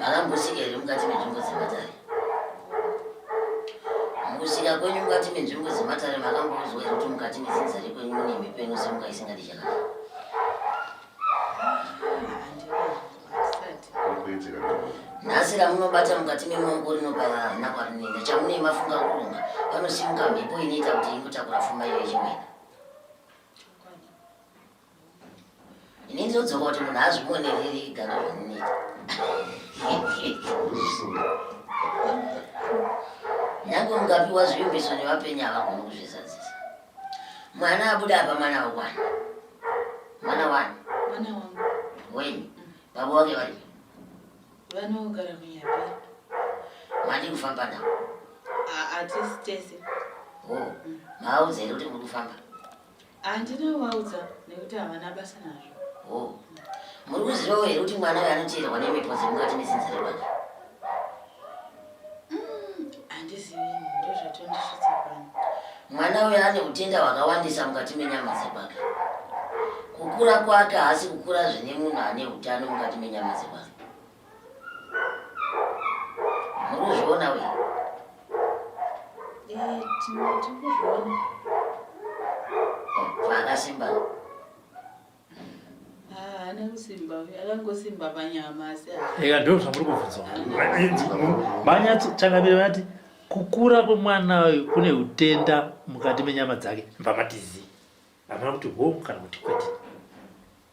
makambosika here mukati menzvimbo dzematare mukusika kwenyu mukati menzvimbo dzematare makamboudzwa here kuti mukati mezinza rekwenyu mune mhepo inosemuka isingadi chakanaka nhasi ramunobata mukati memaoko rinobaya hana kwarinoenda chamunei mafunga kuronga panosimuka mhepo inoita kuti ingotakura fuma iyo ichimwena ini ndinodzoka kuti munhu azvione riri ega nezvamunoita nyange mungapiwa zvivimbiso nevapenyu havagoni kuzvizadzisa mwana abuda apa mwana wakwana mwana wani wenyu baba wake vari vanogara kunyapi mandi kufamba navo atisi tese o oh, maaudza here kuti muri kufamba Handina kuvaudza nekuti havana basa nazvo. Oh. Muri kuzivawo here kuti mwana uyo anoteerwa nemhepo dzemukati nezinza rerwacho? Mm, handizivi, ndozvatondisvitsa pano. Mwana uyo ane utenda hwakawandisa mukati menyama dzekwake. Kukura kwake haasi kukura zvine munhu ane utano mukati menyama dzekwake. Murikuzviona uyu? Eh, Tirikuzviona. Akasimba. Haana ah, kusimba uyu, akangosimba panyama asi. Eka eh, ndoo zvamuri kubvunza. Manyatso changamire vati kukura kwemwana uyu kune utenda mukati menyama dzake. Mbamatizi. Hamuna kuti home kana kuti kwete.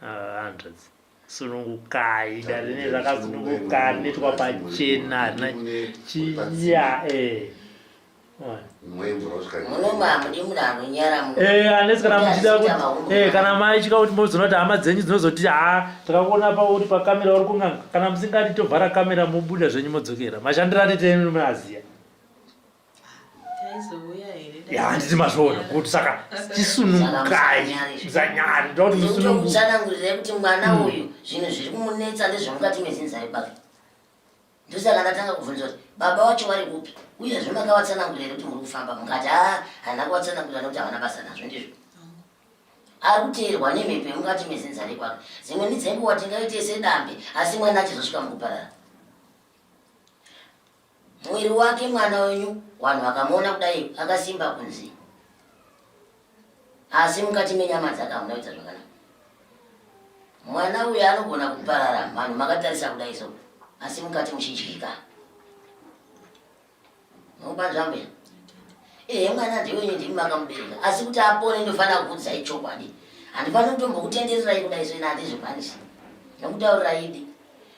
hanzvadzi sunungukai dare ne rakasununguka rinoitwa pachena harina chiya eh. eh, unless kana muchida kuti eh, kana maitya kuti mozoona kuti hama dzenyu dzinozoti ha takakuona pauri pakamera uri kun'anga kana musingati tovhara kamera mobuda zvenyu modzokera mashandiro atitenyu munaziya handiti mazvoona kuti saka chisunukai zanyari ndotimusanangurirai kuti mwana hmm. uyu zvinhu zviri kumunetsa ndezvemukati mezinzari kwake ndosaka ndatanga kubvunza kuti baba wacho vari kupi uyezve makavatsanangurira kuti muri kufamba mukati a ah, hana kuvatsanangurira nokuti havana basa nazvo ndizvo ari kuteerwa nemhepo yemukati mezinzari kwake dzimwe ndidzenguva tingaite sedambe asi mwana achizosvika mukuparara Mwiri wake mwana wenyu wanhu wakamuona kudai akasimba kunzi asi mukati menyama dzake hamuna kuita zvakanaka mwana uyu anogona kuparara vanhu makatarisa kudai so asi mukati muchidyika nobanzvambe ehe mwana ndiwenyu ndimi makamubereka asi kuti apone ndofanira kukudzai chokwadi handifaniri kutombokutendererai kudai so ina handizvikwanisi nokutaurira idi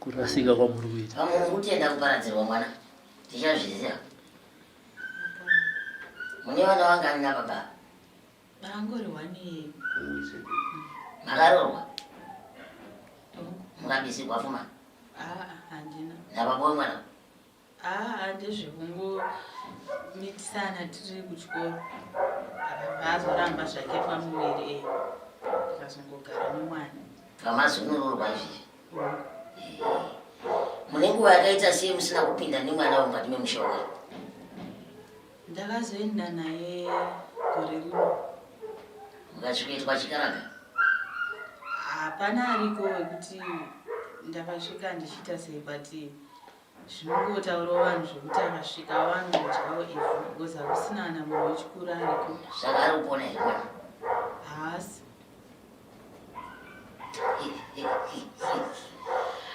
kurasika kwamuri kuita vamwe mukutenda kuparadzirwa mwana tichazviziva mune vana vangani nababa vangori wani makarorwa mukabisirwa fuma ah, ah, nababa wemwana Haa ndezvekungomitisana tiri kuchikoro akabva azoramba zvake pamuviri e akazongogara nemwana pamazunururwa izvizvi mune nguva yakaita sei musina kupinda nemwana wemukati memusha wake ndakazoenda naye gore rino mukasvikoitwa chikaraga hapana ariko wekuti ndakasvika ndichiita sei but zvinongotaurawo vanhu zvekuti akasvika awanodyawo ivhu because hakusina kana munhu wechikuru ariko saka ari kupona here haasi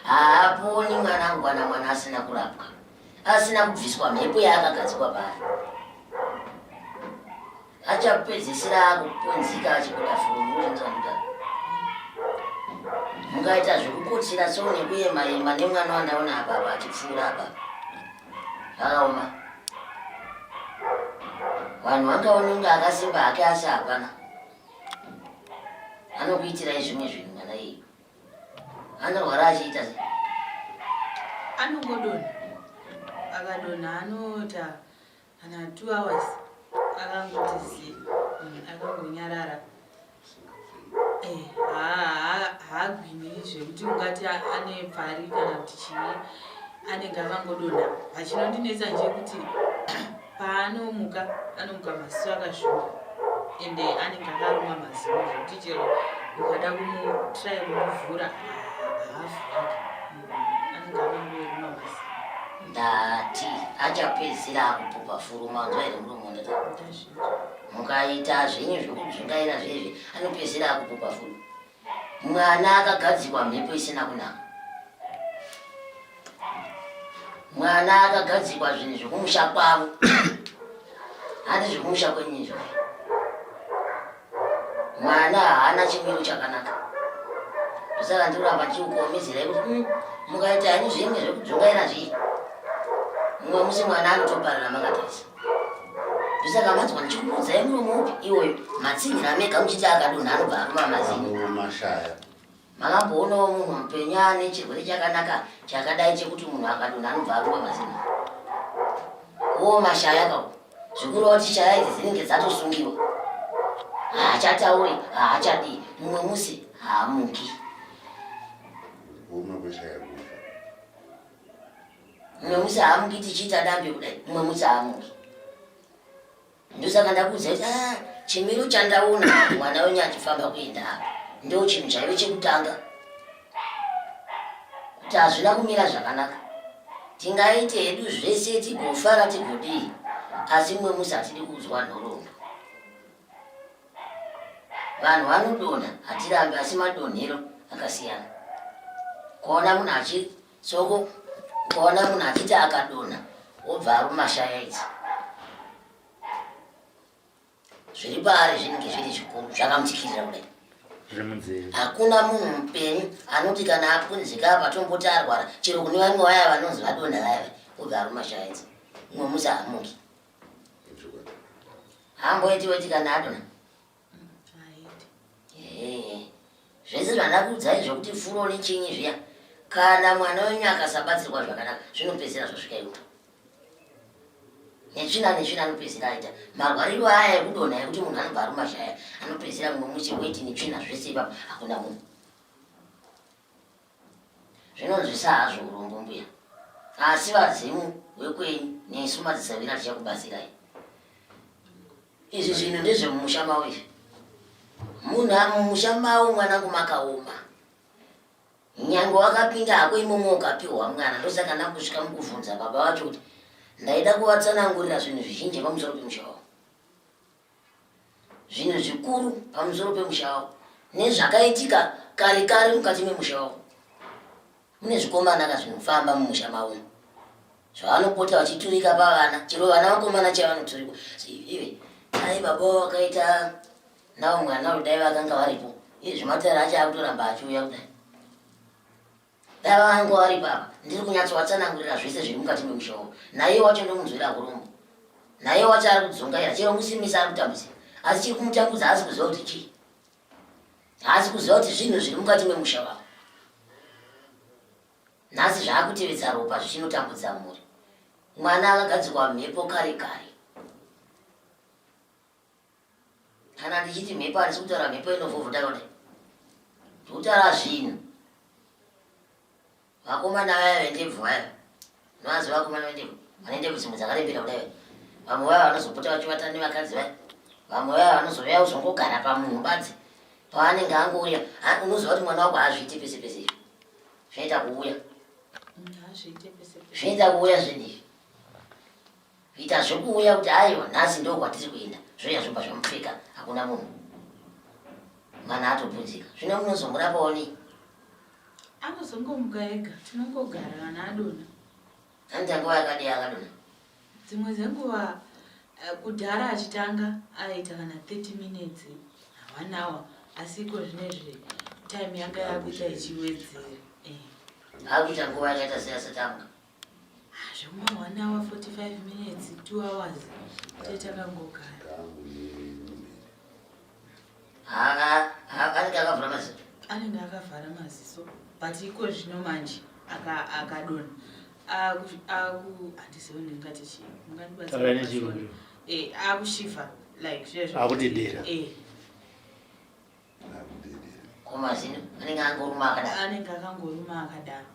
haaponi mwanangu kana mwana asina kurapwa asina kubviswa mhepo yaakagadzikwa paari achapedzisira akupunzika achibuda fumuuakuda mungaita zvekukutsira so nekuyema yema nemwana wandaona apapa achipfuura apa zvakaoma vanhu vangaononga akasimba hake asi hapana anokuitirai zvimwe zvinhu mwana iyi anorwara achiita se anongodona akadona anota Kana two hours akangoti zii mm, akangonyarara eh, haagwini zvekuti ungati ane pfari kana kuti chii anenge akangodonha vachinondinetsa nje kuti paanomuka anomuka maziso akashuka ende anenge akaruma maziso zvekuti chero ukada kumutrai kumuvhura haavhuriki ndati achapedzisira akupupa furu manzwa here murume wandata mukaita zvenyu zvekudzungaira zvezve anopedzisira akupupa furu mwana akagadzikwa mhepo isina kunaka mwana akagadzikwa zvinhu zvekumusha kwavo handi zvekumusha kwenyizvo mwana haana chimiro chakanaka ndosaka ndikuramba ndichiukomizira kuti hmm, mukaita henyu zvinge zvekudzungaira zvii mumwe musi mwana anotoparira makatarisa ndosaka manzwa ndichikuudzai muromo upi iwoyo matsinhira mega muchiti akadonha anobva aruma mazini Makamboonawo munhu mupenyu ane chirwere chakanaka chakadai chekuti munhu akadonha anobva arumba mazina? Wo mashaya kawo. Zvikurova kuti shaya idzi dzinenge dzatosungiwa. Haachatauri, haachadii. Mumwe musi haamuki. Woma kweshaya kufa. Mumwe musi haamuki tichiita dambe kudai. Mumwe musi haamuki. ndosaka ndakuudza kuti ah, chimiro chandaona mwana wenyu achifamba kuenda apa ndo chinhu chaive chekutanga kuti hazvina kumira zvakanaka tingaite hedu zvese tigofara tigodii asi mwe musi hatidi kuudzwa nhoroondo vanhu vanodonha hatirambi asi madonhero akasiyana kuona munhu achi soko ukaona munhu achiti akadonha wobva aruma shaya idzi zviri paari zvinenge zviri zvikuru zvakamutikirira kudai hakuna munhu mupenyu anoti kana apunzika apa tomboti arwara chero kune vamwe vaya vanonzi vadonha vayava obva aruma shaya idzi umwe musi hamuki hamboitiweti kana adonha zvese zvandakuudzai zvokuti furo nechinyi zviya kana mwana wenyu akasabatsirwa zvakanaka zvinopedzera zvasvika iwo netsvina netsvina anopedzera aita marwariro aya ekudonha ekuti munhu anobva arumashaya anopedzera mumwe musi weti netsvina zvese ipapo hakuna munhu Zvinonzwisa hazvo urombo mbuya asi vadzimu vekwenyu nesu madzisavira tichakubatsirai. Izvi zvinhu ndezvemumusha mavo izvi. Munhu amumusha mavo mwanangu makaoma. Nyange wakapinda hako imomo ukapiwa mwana ndosaka nakusvika mukuvhunza baba vacho kuti ndaida kuvatsanangurira zvinhu zvizhinji pamusoro pemusha wavo. zvinhu zvikuru pamusoro pemusha wavo nezvakaitika kare kare mukati memusha wavo mune zvikomana ka zvinofamba mumusha mavo zvavanopota vachiturika pavana chero vana vakomana chavanoturikwa ive dai baba vakaita navo mwana uri dai vakanga varipo izvi matare acho akutoramba achiuya kudai Dara vangu vari baba, ndiri kunyatsovatsanangurira zvese zviri mukati memusha uyu. Naiye wacho ndomunzwira kurombo. Naiye wacho ari kudzungaira, chero musimisa ari kutambudzira. Asi chiri kumutambudza haasi kuziva kuti chii. Haasi kuziva kuti zvinhu zviri mukati memusha vavo. Nhasi zvaakutevedza ropa zvichinotambudza mhuri. Mwana akagadzirwa mhepo kare kare. kana ndichiti mhepo handisi kutaura mhepo inovhovota rode ndikutaura zvinhu vakomana vaya vendebvu vaya novazi vakomana vendebvu vane ndebvu dzimwe dzakarembera kudai vaya vamwe vaya vanozopota vachivata nevakadzi vaya vamwe vaya vanozouya kuzongogara pamunhu badzi paanenge angouya unoziva kuti mwana wako haazviite pese pese izvi zvinoita kuuya zvinoita kuuya zvinhu izvi Kuita zvekuuya kuti aiwa nhasi ndo kwatiri kuenda zvoya zvobva zvamupfeka hakuna munhu mwana atobvunzika zvino munozomurapa onei anozongomuka ega tinongogara kana adona hanzi anguva yakadii akadona dzimwe dzenguva eh, kudhara achitanga aita kana 30 minutes one hour asi iko zvine zve time yanga yakuita ichiwedzera eh. akuita nguva yakaita seasatanga zvimwe one hour 45 minutes two hours tetakangogara anenge akavhara maziso anenge akavhara maziso but iko zvino manje akadona handizive ndingati chii mungandibatsira akushiva eh, like zvezvo akudedera eh. komazino anenge angoruma akadaro anenge akangoruma akadaro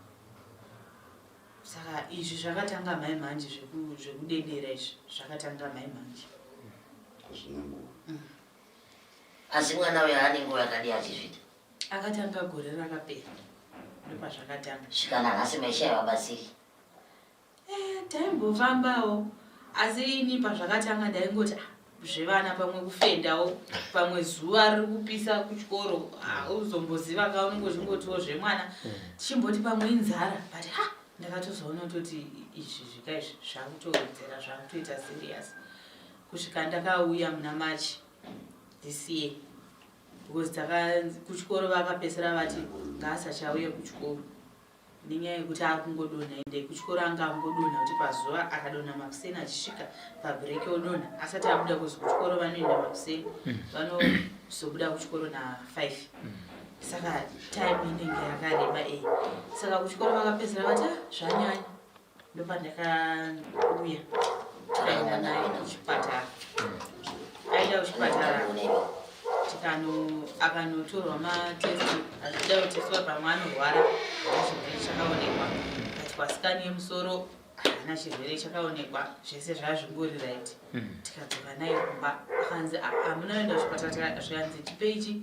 saka izvi zvakatanga mai manje zvekudedera izvi zvakatanga mai manje mm. asi mwana uyo ane nguva yakadii achizvita akatanga gore rakapera ndopazvakatanga svikana nhasi maisha yavabatsiri Eh, taimbofambawo asi ini pazvakatanga ndaingoti ah, zvevana pamwe kufendawo pamwe zuva riri kupisa kuchikoro hauzomboziva ka unenge uchingotiwo zvemwana mm. tichimboti pamwe inzara but ha ndakatozoona kutoti izvi zvika izvi zvakutowedzera zvakutoita serious kusvika ndakauya muna march this year because kuchikoro vakapesera vati ngaasachauye kuchikoro nenyaya yekuti akungodonha ende kuchikoro anga angodonha kuti pazuva akadonha makuseni achisvika pabreak odonha asati abuda kuzi kuchikoro vanoenda makuseni mm. vanozobuda kuchikoro na5 mm. saka time inenge yakareba ei saka kuchikoro vakapedzera vati ah, zvanyanya ndopandakauya tikaenda naye kuchipatara aida kuchipatara tikano akanotorwa matest azvida kuteswa pamwe anorwara chirwere chakaonekwa aitwa sikani yemusoro haana chirwere chakaonekwa zvese zvazvingori right hmm. tikadzoka naye kumba akanzi hamuna ah, enda kuchipatara zvikanzi chipeichi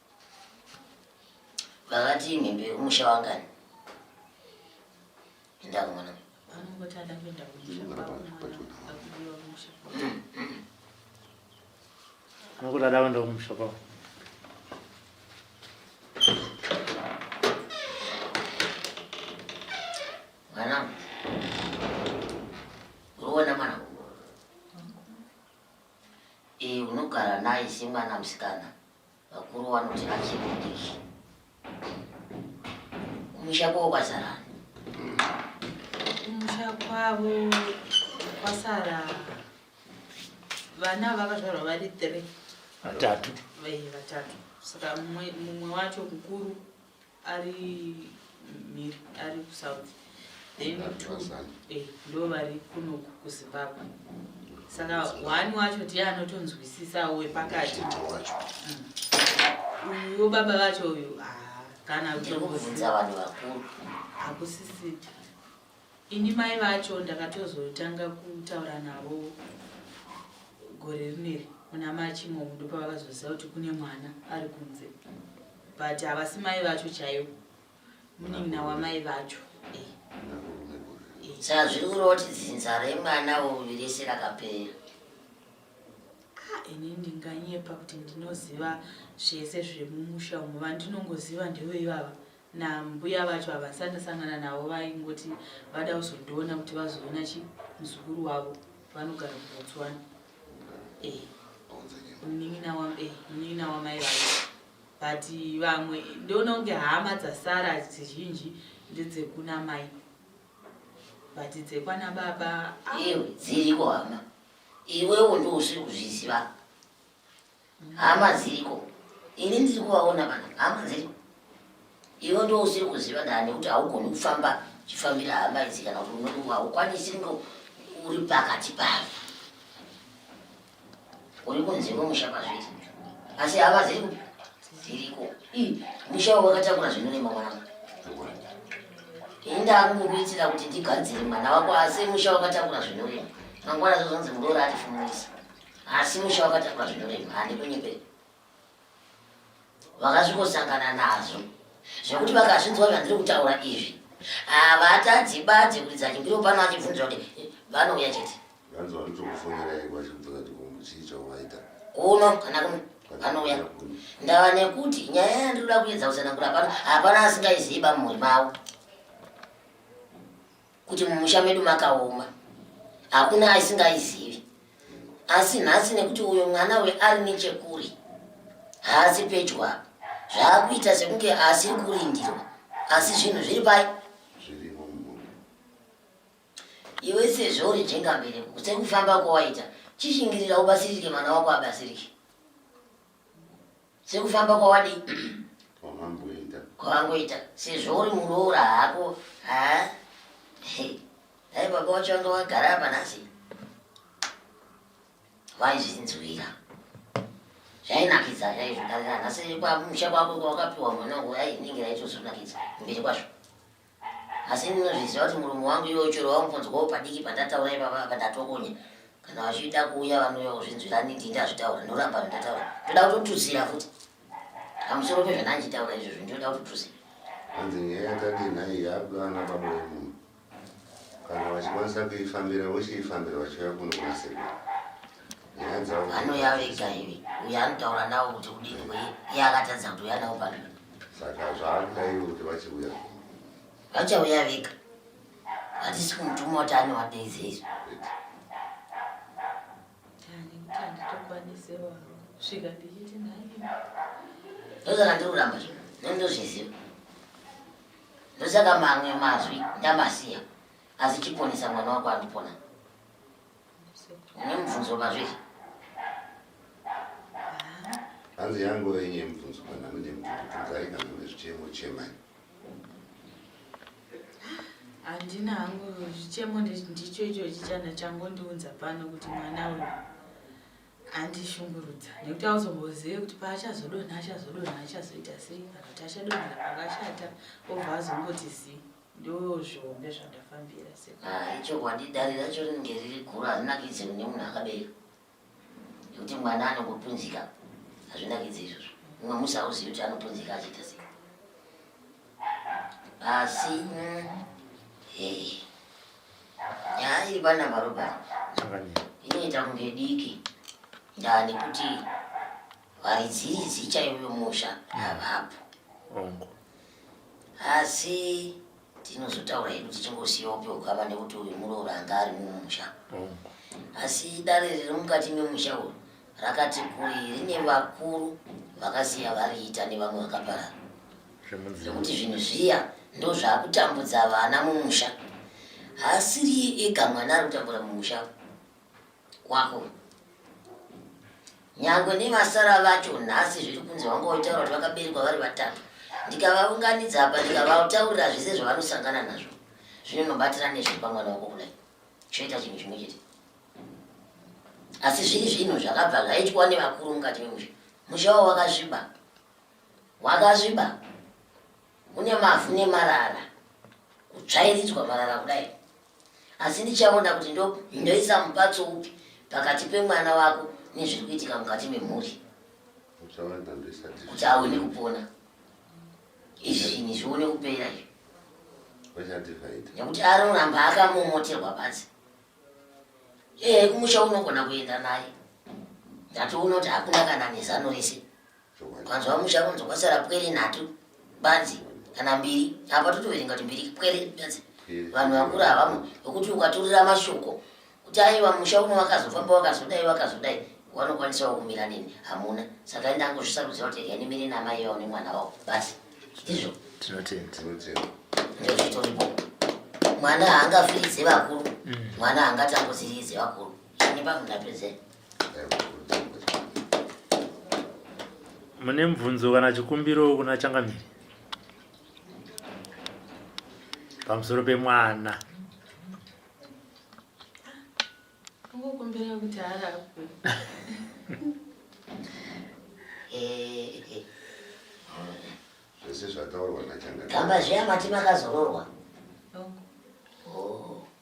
Vakati mhembe yokumusha wangani? Enda kumwana. Vanongoti ada kuenda kumusha kwakudiwa kumusha. Vanongoti ada kuenda kumusha kwavo. Mwana. Uruona mwana. Eh, unogara naye semwana musikana. Vakuru vanoti vachikudishi kumusha kwavo kwazara kumusha kwavo kwasara vana vakazvarwa vari three vatatu vatatu saka mumwe wacho mukuru ari mhiri ari kusouth then two eh, ndo vari kunoku kuzimbabwe saka one wacho tiye anotonzwisisawo wepakati mm. uyo baba vacho uyu ah, kana kutombozia hakusisiti Ini mai vacho ndakatozotanga kutaura navo gore rineri muna machi imomo ndopavakazoziva kuti kune mwana ari kunze but havasi mai vacho chaivo munin'ina wamai vacho eh. Eh. sazviri kuroti dzinza remwana uyu rese rakapera ah, ini ndinganyepa kuti ndinoziva zvese zvemumusha umo vandinongoziva ndevo ivava nambuya vacho havasati ndasangana navo vaingoti vada kuzondiona kuti vazoona chi muzukuru wavo vanogara kubotswana eh, munin'ina wamai eh, vacho but vamwe ndoona kunge hama dzasara dzizhinji ndedzekuna mai but dzekwana baba iwe dziriko hama iwewo ndousiri kuzviziva Hama dziriko. Ini ndiri kuvaona vanhu. Hama dziriko. Iwe ndo usiri kuziva ndaa nekuti haugoni kufamba chifambira hama idzi kana kuti unoti haukwanisi ndo uri pakati pavo. Uri kunze kwemusha pazviri. Asi hama dziriko. Dziriko. Ii, musha wakatakura zvinorema mwanangu enda akukuitira kuti ndigadzire mwana wako asi musha wakatakura zvinorema mangwana zvozonzi muroora atifumurisa asi musha wakatakwa zvinorema handikunyeperi vakazvikosangana nazvo zvekuti vakazvinzwa zvandiri kutaura izvi havatadzi badzi kuridza chimbiro pano achibvunza kuti vanouya chete kuno kana kuno vanouya ndava nekuti nyaya yandiri kuda kuedza kusanangura pano hapana asingaiziva mumhuri mavo kuti mumusha medu makaoma hakuna aisingaizivi asi nhasi nekuti uyo mwana uyo ari nechekuri haasi pedyo apa zvaakuita sekunge haasiri kurindirwa asi zvinhu zviri pai iwe sezvo uri jengambereko sekufamba kwawaita chishingirira ubatsirike mwana wako abatsirike sekufamba kwawadi kwamamboita kwawangoita sezvo uri muroora hako ha dai baba wacho wanga wagara apa nhasi vaizvinzwira zvainakidza chaizvo asi kwamusha kwako kwawakapiwa mwana wangu ai inenge yaitozonakidza mberi kwazvo asi ini ndinozviziva kuti murume wangu iwe uchero waungonzwawo padiki pandataura ipapa apa ndatokonya kana vachida kuuya vanouya kuzvinzwira ani ndii ndazvitaura ndoramba zvandataura ndoda kutotutsira futi pamusoro pezvandandichitaura izvozvo ndinoda kutotutsira hanzi nyaya yatati nhai yakuda ana baba vemunhu kana vachikwanisa kuifambira vochiifambira vachiuya kuno kunasekuru nyaya dzavo vanoya vega ivi uyo anotaura navo kuti kudini kwei iye akatadza kuti uya navo pamberi saka zvaakaiwo kuti vachiuya vachauya vega hatisi kumutuma kuti anovadeidze izvo ndosaka ndiri kuramba zvo nendozviziva ndosaka mamwe mazwi ndamasiya asi chiponesa mwana wako andipona Nemubvunzo mazviri. Hanzi yangu renye mubvunzo kana mune mubvunzai kana mune zvichemo chemai. Handina hangu zvichemo ndicho icho chichana changondiunza pano kuti mwana uyu andishungurudza nekuti auzombozive kuti paachazodonha achazodonha achazoita sei kana kuti achadonhera pakashata obva azongoti zii Ndozvihombe zvandafambira se. Ah, ichokwadi dare racho rinenge riri guru harinakidze kune munhu akabereka. Nekuti mwana anongopunzika hazvinakidze izvozvo. Mumwe musi hauzivi kuti anopunzika achiita sei. Asi hey. Nyaya iri pana Marobert inoita kunge diki ndaa nekuti Vaidziidzi chaivo musha havapo. Hongu. Asi tinozotaura hedu tichingosiyawo pehukama nekuti uyu muroora anga ari mumusha. Hongu. Asi dare riri mukati memusha uyu rakati kuri rine vakuru vakasiya variita nevamwe vakaparara. Zvekuti zvinhu zviya ndozvakutambudza vana mumusha. Haasiri ega mwana ari kutambura mumusha. kwako nyangwe nevasara vacho nhasi zviri kunzi vanga vaitaura kuti vakaberekwa vari vatatu ndikavaunganidza apa ndikavataurira zvese zvavanosangana nazvo zvino nobatira nezve pamwana wako kudai choita chinhu chimwe chete asi zviri zvinhu zvakabva zvaitwa nevakuru mukati memusha musha wavo wakazviba wakazviba une mavhu nemarara kutsvairidzwa marara kudai asi ndichaona kuti ndo ndoisa mupatso upi pakati pemwana wako nezviri kuitika mukati memhuri kuti aone kupona izvinhi zvione kupera izvi nekuti anoramba akamomoterwa pasi ee kumusha unogona kuenda naye ndatoona kuti hakuna kana nezano rese Kwanzwa musha kunzi kwasara pwere nhatu badzi kana mbiri apa totoverenga kuti mbiri pwere badzi vanhu vakura havamwe vekuti ukaturira mashoko kuti aiwa musha uno wakazofamba wakazodai wakazodai wanokwanisawo kumira nini hamuna saka enda angozvisarudza kuti rega nimire namai vao nemwana wavo basi ndizvo tinotenda ndizvo zvitoripo mwana haangafiridze vakuru mm. mwana haangatambudziridze vakuru ini pamundapedzei mune mubvunzo kana chikumbiro kuna changamiri pamusoro pemwana zvese zvataurwa nachangamiri kamba zviya mati makazororwa